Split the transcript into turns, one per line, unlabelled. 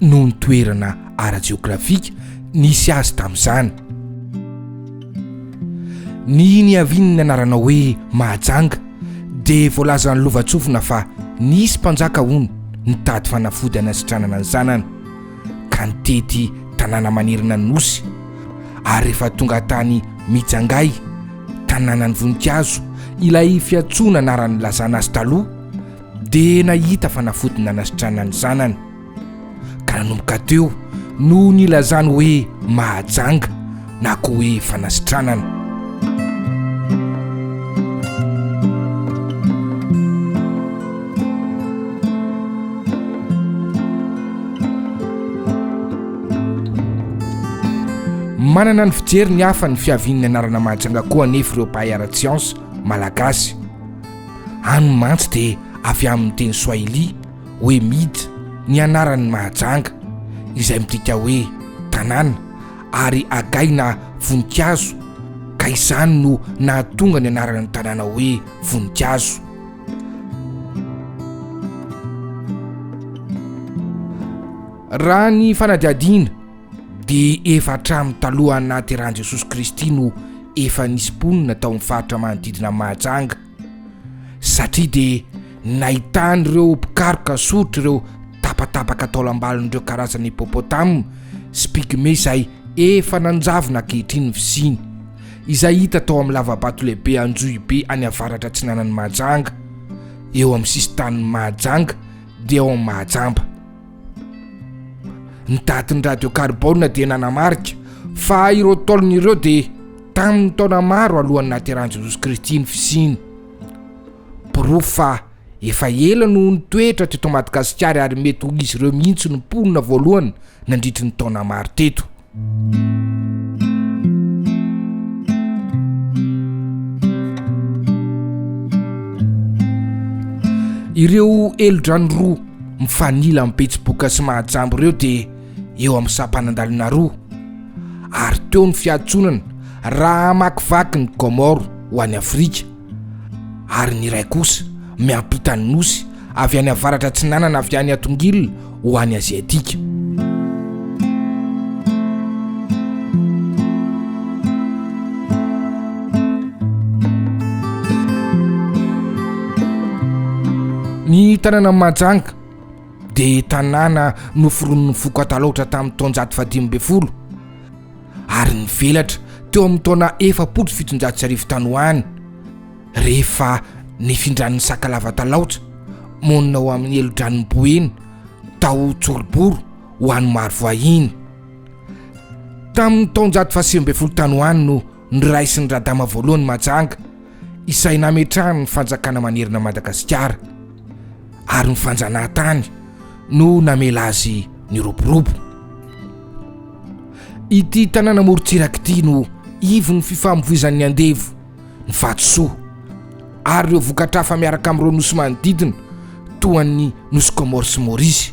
noho ny toerana ara-jeografika nisy azy tamin'izany. Ny niavian'ny anarana hoe Mahajanga dia voalazan'ny lovantsofina fa nisy mpanjaka, hono, nitady fanafody hanasitranana ny zanany ka nitety tanàna manerana ny nosy ary rehefa tonga tany Mijangay, tanànan'ny voninkazo, ilay fiantsoana anaran'ny nilazana azy taloha dia nahita fanafody nanasitranany zanany. ka nanomboka teo no nilazany hoe mahajanga na koa hoe fanasitranana manana ny fijery ny hafa ny fiavian'ny anarana mahajanga koa anefa ireo mpahay ara-tsiansa malagasy any mantsy dia avy amin'ny teny soahili hoe Mid ny anaran'ny Mahajanga, izay midika hoe tanàna, ary Agay na voninkazo, ka izany no nahatonga ny anaran'ny tanàna hoe Voninkazo. Raha ny fanadihadiana dia efa hatramin'ny talohan'ny nahaterahan'i Jesosy Kristy no efa nisy mponina tao amin'ny faritra manodidina an'i Mahajanga. satria de nahitany ireo mpikaroka soritra ireo tapatapaka taolambalon'ireo karazana hipopotame sy pygmee izay efa nanjavona ankehitriny ny fisiany, izay hita tao amin'ny lavabato lehibe Anjohibe any avaratra atsinanan'i Mahajanga, eo amin'ny sisin-tanin'i Mahajanga dia ao amin'ny Mahajamba. ny datin'ny radiokarbona dia nanamarika fa ireo taolony ireo dia tamin'ny taona maro alohan'ny nateran'i jesosy kristy ny fisiny porofo fa efa ela no ny toetra teto madagasikary ary mety ho izy ireo mihitsy ny mponina voalohany nandritry ny taona maro teto ireo helodrano roa mifanila amin'ny betsiboka sy mahajambo ireo dia eo amin'ny sampanandalina roa ary teo ny fiatsonana raha hamakivaky ny komoro ho any afrika ary ny iray kosa miampita ny nosy avy any avaratra atsinanana avy any Atongil ho any Aziatika. Ny tanàna Mahajanga dia tanàna noforonin'ny foko Atalaotra tamin'ny taonjato fahadimy ambin'ny folo. ary nivelatra teo amin'ny taona efapolo sy fitonjato sy arivo tany ho any rehefa nifindran'ny sakalava talaotra monina ho amin'ny helodranin'ny boeny tao tsoroboro ho any marovoahiny tamin'ny taonjato fahasivy ambin'ny folo tany ho any no niraisin'ny radama voalohany majanga izay nametrahan'ny fanjakana manerana an'i Madagasikara ary ny fanjanahantany no namela azy niroborobo. Ity tanàna morontsiraka ity no ivon'ny fifamovoizan'ny andevo, ny vatosoa ary ireo vokatra hafa miaraka amin'ireo nosy manodidina toa an'ny nosy Comores sy Maurice.